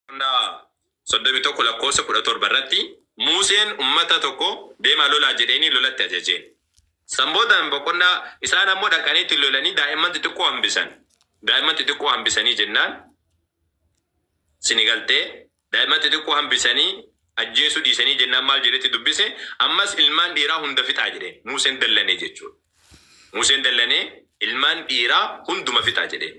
Boqonnaa 31 lakkoofsa 17 irratti Muuseen ummata tokko deemaa lolaa jedheenii lolatti ajaje. San booda boqonnaa isaan ammoo dhaqanii itti lolanii daa'imman xixiqqoo hambisan. Daa'imman xixiqqoo hambisanii jennaan sini galtee daa'imman xixiqqoo hambisanii ajjeesuu dhiisanii jennaan maal jedhetti dubbise ammas ilmaan dhiiraa hunda fixaa jedhe Muuseen dallanee jechuudha. Muuseen dallanee ilmaan dhiiraa hunduma fixaa jedhe.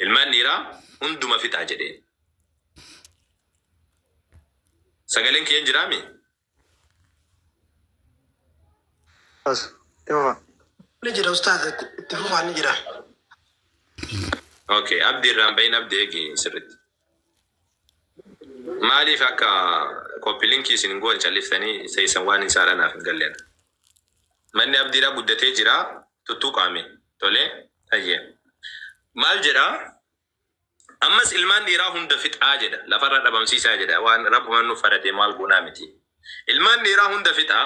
Ilmaan dhiiraa hunduma fixaa jedheen. Sagaleen kiyya hin jiraa mii? As ni fufa. Ni jira ustaaz itti itti fufaa ni jira. Ok abdi irraa hin bahin abdi eegi sirritti. Maalif akka copy link isin hin goone calliftanii teessan waan hin saadha naaf hin galle ana. Manni abdiidhaa guddatee jira tuttuqaa mee tolee hayyee. Maal jedha ammas ilmaan dhiiraa hunda fixaa jedha lafarraa dhabamsiisaa jedha waan rabbuman nuuf faradee maal goonaa miti ilmaan dhiiraa hunda fixaa.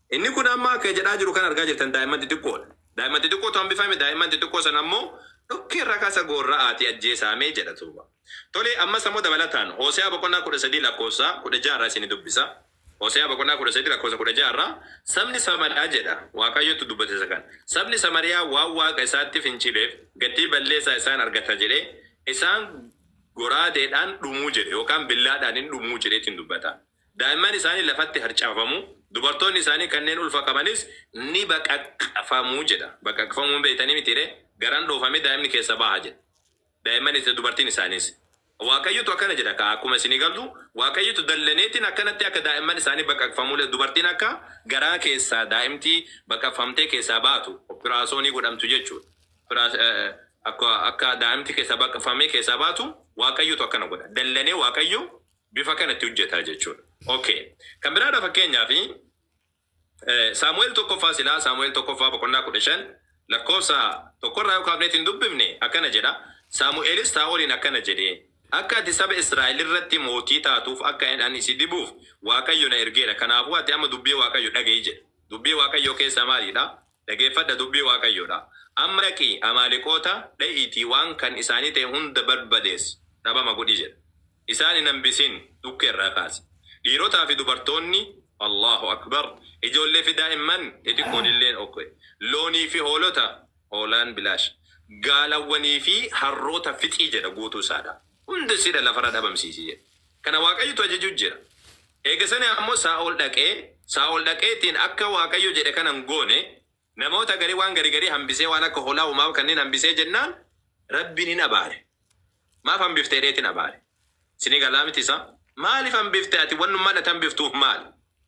Inni kun amma akka jedhaa jiru kan argaa jirtan daa'imman xixiqqoodha. Daa'imman xixiqqootu hambifame, daa'imman xixiqqoo sana ammoo dhokkeen rakasa goorra'aatii ajjeesaame jedha Tuuba. Tole, ammas ammoo dabalataan Hoose'aa boqonnaa 13 lakkoofsa 16 irraa isinii dubbisa. Hoose'aa boqonnaa 13 lakkoofsa 16 irraa, Sabni Samariyaa jedha, Waaqayyotu dubbate isa kana, Sabni Samariyaa waan Waaqa isaatti fincileef gatii balleessaa isaa in argata jedhee, isaan goraadeedhaan dhumu jedhe, yookaan billaadhaan in dhumu jedheetiin dubbata. Daa'imman isaanii lafatti harcaafamu, dubartoonni isaanii kanneen ulfa qabanis ni baqaqfamu jedha. Baqaqfamuu hin beektanii mitiiree? Garaan dhoofamee daa'imni keessaa baha jedha. Daa'imman isa dubartiin isaaniis. Waaqayyotu akkana jedha kaa akkuma isinii galu Waaqayyotu dallaneetiin akkanatti akka daa'imman isaanii baqaqfamuule dubartiin akka garaa keessaa daa'imti baqaqfamtee keessaa baatu oppiraasoonii godhamtu jechuudha. Oppiraas akka akka daa'imti keessaa baqaqfamee keessaa baatu Waaqayyotu akkana godha. Dallanee Waaqayyo bifa kana itti hojjeta jechuudha. Ok. Kan biraadha fakkeenyaaf Saamu'eel tokkoffaa silaa Saamu'eel tokkoffaa boqonnaa 15 lakkoofsa tokkorraa yoo kaafneeti hin dubbifne akkana jedha Saamu'eelis Saa'oliin akkana jedhe akka ati saba Israa'el irratti mootii taatuuf akka ani si dibuuf Waaqayyo na ergeera kanaafuu ati amma dubbii Waaqayyo dhaga'i jedhe. Dubbii Waaqayyoo keessaa maaliidha? Dhageeffadha, dubbii Waaqayyoo dha. Amma dhaqi, Amaaleqoota dha'iitii waan kan isaanii ta'e hunda barbadeessi, dhabama godhi jedhe. Isaan hin hambisin, dhukkee irraa kaase. Dhiirotaa fi dubartoonni, Allaahu Akbar, ijoollee fi daa'imman xixiqqoon illeen ok. Loonii fi hoolota, hoolaan bilaash, gaalawwanii fi harroota fixi jedha, guutuu isaa dha. Hunda isii dha lafa irra dhabamsiisi jedhe. Kana Waaqayyotu ajajuu jira. Eega sani ammo Saa'ol d'aqee, Saa'ol d'aqeetiin aka Waaqayyo jed'e kana ingoone, namoota gari waan garigari hambisee waan aka holaa uumama kanniin hambisee jennaan Rabbiin inabaare. Maaf hambifte jed'eetiin abaare. Isinii galaa miti isaa? Maalif hambifte ati wannummaan ati hambiftuuf maal?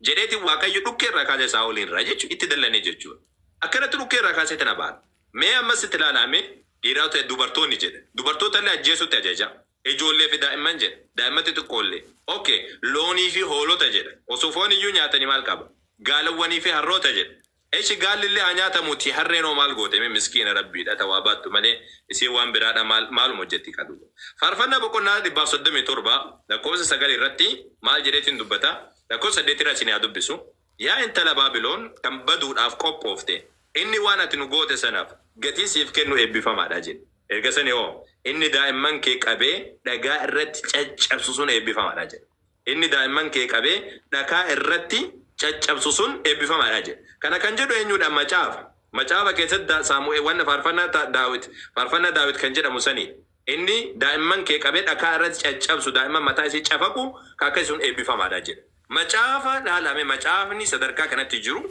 jedheetiin Waaqayyo dhukkee irraa kaasee Saa'oliin irraa jechu itti dallanee jechuu dha. Akkanatti dhukkee irraa kaaseetiin abaare. Mee ammas itti laalaa mee dhiiraota dubartoonni jedhe dubartoota illee ajjeesuutti ajajaa. Ijoollee fi daa'imman jedha. Daa'imman xixiqqoo illee. Ok. Loonii fi hoolota jedha. Osoo foon iyyuu nyaatanii maal qaba? Gaalawwanii fi harroota jedha. Eshi gaalli illee haa nyaatamu ti harreen hoo maal goote mee miskiina Rabbii dha ta waa baattu malee isiin waan biraa dha maal maaluma hojjetti kaa duuba. Faarfannaa boqonnaa 137 lakkoofsa 9 irratti maal jedheetiin dubbata? Lakkoofsa 8 irraa isinii haa dubbisu. Yaa intala Baabilon kan baduudhaaf qophoofte, inni waan ati nu goote sanaaf gatii siif kennu eebbifamaa dha jedhe. Erga sanii hoo, Inni daa'imman kee qabee dhagaa irratti caccabsu sun eebbifamaa dha jedhe. Inni daa'imman kee qabee dhakaa irratti caccabsu sun eebbifamaa dha jedhe. Kana kan jedhu eenyu dha? Macaafa. Macaafa keessatti da, Saamu'e, wanna Faarfannaa ta, Daawit, Faarfannaa Daawit kan jedhamu sanii dha. Inni daa'imman kee qabee dhakaa irratti caccabsu, daa'imman mataa isii cafaqu ka akkasi sun eebbifamaa dha jedhe. Macaafa laalaa mee, macaafni sadarkaa kanatti jiru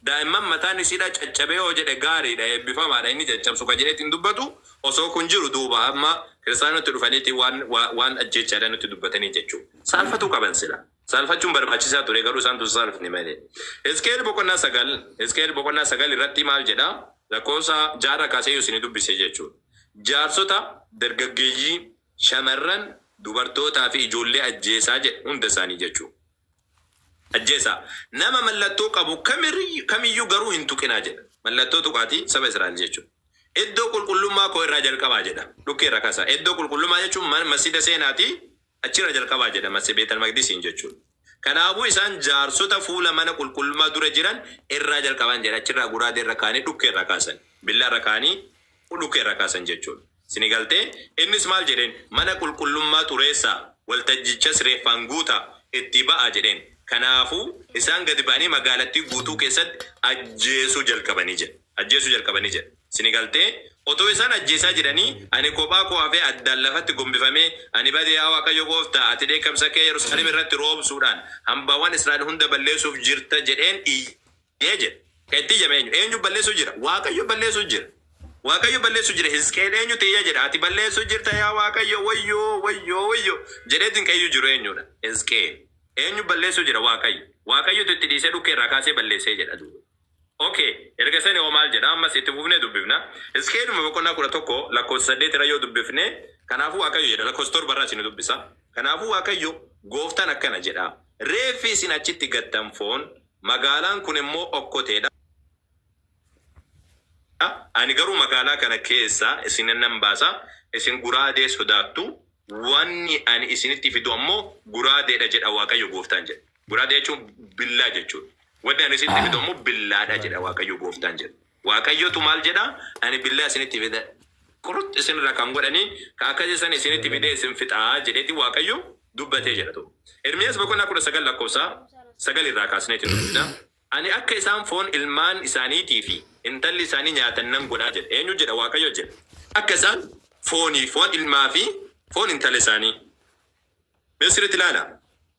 daa'imman mataan isiidhaa caccabee yoo jedhe gaarii dha, eebbifamaa dha, inni caccabsu ka jedheeti hin dubbatu, osoo kun jiru duuba amma kiristaanonni nutti dhufaniiti waan, waan, waan ajjeechaadhaan nutti dubbatanii jechuu saalfatuu qaban silaa. Saalfachuun barbaachisaa ture, garuu isaan tun saalfne malee. Hisqi'el boqonnaa 9, Hisqi'el boqonnaa 9 irratti maal jedha? Lakkoofsa 6 irra kaasee yoo isinii dubbise jechuudha. Jaarsota, dargaggeeyyii, shamarran, dubartootaa fi ijoollee ajjeesaa jedhe, hunda isaanii jechuudha. Ajjeesaa. Nama mallattoo qabu kamiriyyu, kamiyyuu garuu hin tuqinaa jedha. Mallattoo tuqaatii saba Israa'el jechuudha. Iddoo qulqullummaa koo irraa jalqabaa jedha. Dhukkee irraa kaasaa. Iddoo qulqullummaa jechuun mana, masjida seenaatii Achi irraa jalqabaa jedha Masih Beetal Maqdisiin jechuun. Kanaafuu isaan jaarsota fuula mana qulqullummaa dura jiran irraa jalqaban jedha achi irraa guraadee irra kaa'anii dhukkee irraa kaasan. Billaa irra kaa'anii dhukkee irraa kaasan jechuun. Isinii galtee? Innis maal jedheen? Mana qulqullummaa xureessaa, waltajjichas reeffaan guutaa, itti ba'aa jedheen. Kanaafuu isaan gadi ba'anii magaalattii guutuu keessatti ajjeesuu jalqabanii jedha. Ajjeesuu jalqabanii jedha. Sini galtee? Otoo isaan ajjeesaa jiranii, ani kophaa koo hafee addaan lafatti gombifamee, Ani bade, yaa Waaqayyo gooftaa, ati dheekkamsa kee Yerusaalem irratti roobsuudhaan hambaawwan Israa'el hunda balleessuuf jirta jedheen iyye jedhe. Kan itti iyyame eenyu? Eenyu balleessuuf jira? Waaqayyo balleessuuf jira. Waaqayyo balleessuuf jira. Hisqi'el eenyutti iyya jedha? Ati balleessuuf jirta yaa Waaqayyo, wayyoo, wayyoo, wayyoo! jedheetiin kan iyyu jiru eenyu dha? Hisqi'el. Eenyu balleessuuf jira? Waaqayyo. Waaqayyotu itti dhiisee dhukkee irraa kaasee balleessee jedha duuba. Ok erga sani hoo maal jedha ammas itti fufnee dubbifna Hizqi'eluma boqonnaa 11 lakkoofsa 8 irra yoo dubbifne kanaafuu Waaqayyo jedha lakkoofsa 7 irraa isin dubbisa kanaafuu Waaqayyo gooftaan akkana jedha reeffi isin achitti gattan foon magaalaan kun immoo okkotee dha ani garuu magaalaa kana keessaa isin nan baasa isin guraadee sodaattu wanni ani isinitti fidu ammoo guraadee dha jedha Waaqayyo gooftaan jedha. Guraagee jechuun billaa jechuudha. Wanni ani isinitti fidu ammoo billaadha jedha Waaqayyo gooftaan jedha. Waaqayyotu maal jedha? Ani billaa isinitti fida. Qurux isinirraa kan godhanii ka akkasii san isinitti fidee isin fixa jedheeti Waaqayyo dubbate jedha tokko. Ermiyaas boqonnaa 19 lakkoofsa 9 irraa kaasneeti dubbifna. Ani akka isaan foon ilmaan isaaniitii fi intalli isaanii nyaatan nan godha jedha. Eenyu jedha? Waaqayyo jedha. Akka isaan foonii, foon ilmaa fi foon intala isaanii. Mee sirriitti ilaalaa.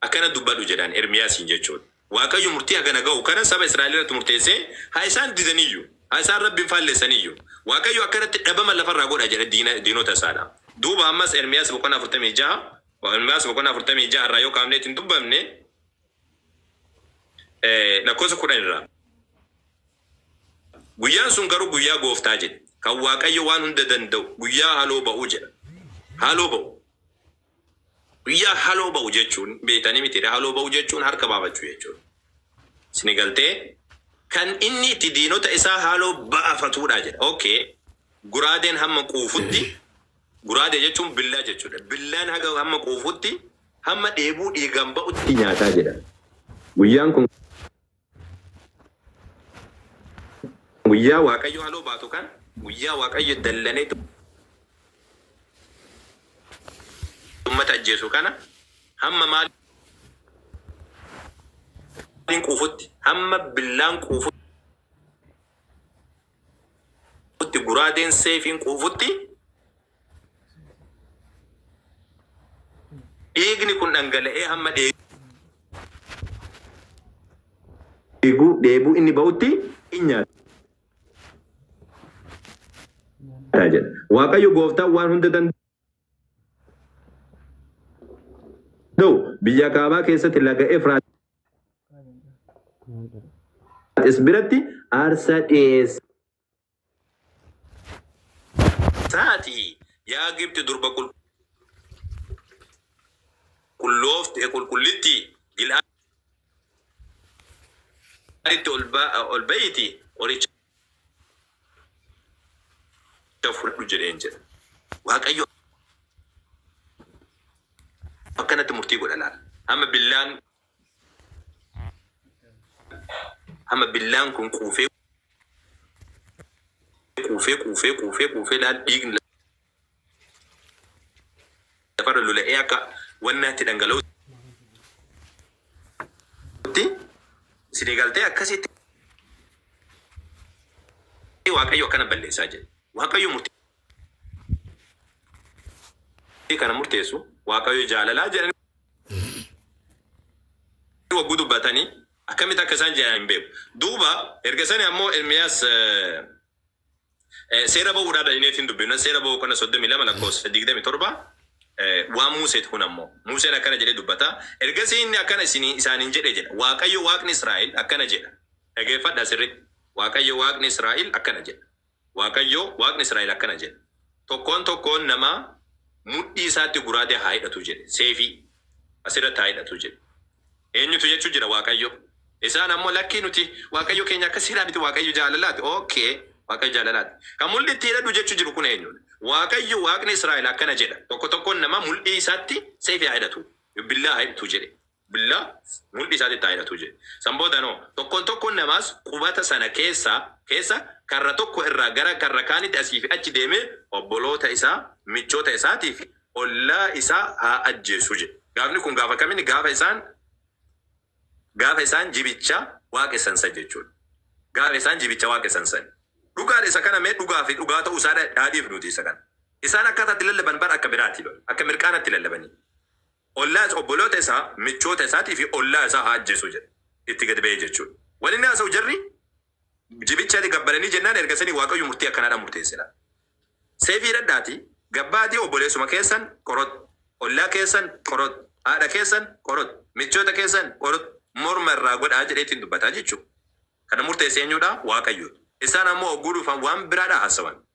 Akkana dubbadhu jedhaan, Ermiyaasiin jechuun. Waaqayyo murtii haga na ga'u kana saba Israa'el irratti murteessee, haa isaan didan iyyuu, haa isaan Rabbiin faallessan iyyuu, Waaqayyo akka irratti dhabama lafa irraa godha jedhe diina, diinota isaa dha. Duuba ammas Ermiyaas boqonnaa 46, Wa, Ermiyaas boqonnaa 46 irraa yoo kaafnee itti hin dubbamne, e, lakkoofsa 10 irraa. Guyyaan sun garuu guyyaa Gooftaa jedhe, kan Waaqayyo Waan Hunda Danda'u guyyaa haloo ba'u jedha. Haaloo ba'u. Guyyaa haloo ba'u jechuun beektanii mitiiree haloo ba'u jechuun harka baafachuu jechuudha. Isinii galtee? Kan inni itti diinota isaa haaloo ba'afatuudha jedha. Ok guraadeen hamma quufutti guraadee jechuun billaa jechuudha. Billaan haga hamma quufutti hamma dheebuu dhiigaan ba'utti nyaataa jedha. Guyyaan kun. Guyyaa Waaqayyo haloo baatu kan guyyaa Waaqayyo dallanee ummata ajjeesu kana hamma maaliin quufutti hamma billaan quufutti guraadeen seefiin quufutti Dhiigni kun dhangala'ee hamma dheebuu inni ba'utti in nyaata jedha. Waaqayyo gooftaan waan hunda danda'u biyya kaabaa keessatti laga Efraaxis biratti aarsaa dhiyeessa. taati, yaa Gibxi durba qulqulloofte, qulqullittii, Gil'aaditti ol ba'iitii qoricha fudhadhu jedheen jedha. Waaqayyo akkanatti murtii godha laal. Amma billaan. Amma billaan kun quufee quufee quufee quufee quufee laal dhiigni lafarra lola'ee akka wannaatti dhangala'utti isin eegaltee akkasitti Waaqayyo akkana balleessaa jedhe. Waaqayyo murtii kana murteessu waaqayyo jaalalaa jedhanii wagguu dubbatanii akkamitti akka isaan jedhan hin beeku. Duuba erga sani ammoo Ermiyaas seera ba'uudhaa dhalineetiin dubbifna seera ba'uu kana 32 lakkoofsa 27 waan Muuseeti kun ammoo Muuseen akkana jedhee dubbata ergasii inni akkana isinii isaaniin jedhe jedha Waaqayyo Waaqni Israa'el akkana jedha dhageeffadha sirriitti Waaqayyo Waaqni Israa'el akkana jedha Waaqayyo Waaqni Israa'el akkana jedha, Tokkoon tokkoon namaa mudhii isaatti guraadee haa hidhatu jedhe, seefii. as irratti haa hidhatu jedhe. Eenyutu jechuu jira? Waaqayyo. Isaan ammoo, Lakkii nuti Waaqayyo keenya akkas jedhaa miti, Waaqayyo jaalalaati. OK, Waaqayyo jaalalaati. Kan mul'dhi itti hidhadhu jechuu jiru kun eenyu dha? Waaqayyo Waaqni Israa'el akkana jedha, Tokko tokkoon namaa mul'dhii isaatti seefii haa hidhatu, billaa haa hidhtu jedhe. billaa mudhii isaatitti haa hidhatu jedhe. San booda noo, tokkoon tokkoon namaas qubata sana keessaa, keessa, karra tokko irraa gara karra kaanitti asii fi achi deemee obboloota isaa, michoota isaatii fi ollaa isaa haa ajjeesu jedhe. Gaafni kun gaafa kam inni? Gaafa isaan, gaafa isaan jibicha waaqessan san jechuu dha. Gaafa isaan jibicha waaqessan san. Dhugaa dha isa kana mee dhugaa fi dhugaa ta'uu isaa haa dhiifnuutii isa kana. Isaan akkaataa itti lallaban bar akka biraa ti bar. Akka mirqaana tti lallabanii. Ollaas obboloota isaa, michoota isaatii fi ollaa isaa haa ajjeesu jedhe. Itti gad ba'ee jechuun. Wal inni haasa'u jarri jibicha gabbaranii jennaan erga sanii Waaqayyo murtii akkanaadhaan murteesse laata. Seefii hidhadhaatii gabba'aatii obboleessuma keessan qorot, ollaa keessan qorot, haadha keessan qorot, michoota keessan qorot morma irraa godhaa jedhee ittiin dubbata jechuudha. Kana murteesse eenyuudha? Waaqayyoodha. Isaan ammoo ogguu dhufan waan biraadha haasawan.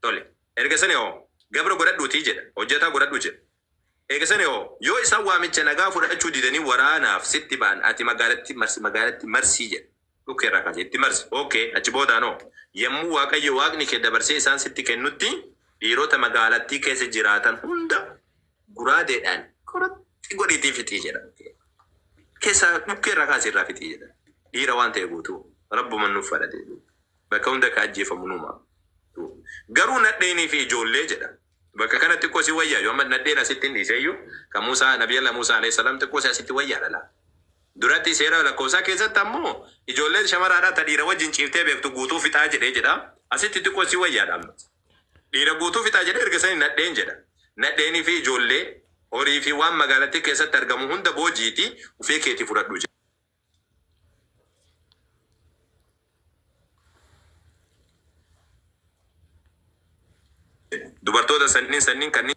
Tole, ergasani hoo? Gabra godhadhuutii jedha, hojjataa godhadhu jedha. Eegasani hoo? Yoo isaan waamicha nagaa fudhachuu didanii waraanaaf sitti ba'an ati magaalatti marsi, magaalatti marsi jedha. Dhukkee irraa kaasee itti marsi. OK, achi boodaan hoo? Yommuu Waaqayyo Waaqni kee dabarsee isaan sitti kennutti dhiirota magaalattii keessa jiraatan hunda guraadeedhaan qurxxi godhiitii fixi jedha. Keessaa dhukkee irraa kaasii irraa fixi jedha. Dhiira waan ta'e guutuu Rabbuman nuuf fadhate. Bakka hunda ka ajjeefamu numa. Garuu nadheenii fi ijoollee jedha. Bakka kana xiqqoo si wayyaa yoo amma nadheen asitti hin dhiisee iyyuu ka Muusaa Nabiyyallah Muusaa Aleyh Salaam xiqqoo si asitti wayyaa dha laa. Duratti seera lakkoofsaa keessatti ammoo ijoolleen shamaraa dha ta dhiira wajjin ciiftee beektu guutuu fixaa jedhee jedha. Asitti xiqqoo si wayyaa dha amma. Dhiira guutuu fixaa jedhee erga sanii nadheen jedha. Nadheenii fi ijoollee, horii fi waan magaalattii keessatti argamu hunda boojiitii ufii keetii fudhadhu jedha. Dubartoota sanniin sanniin kanneen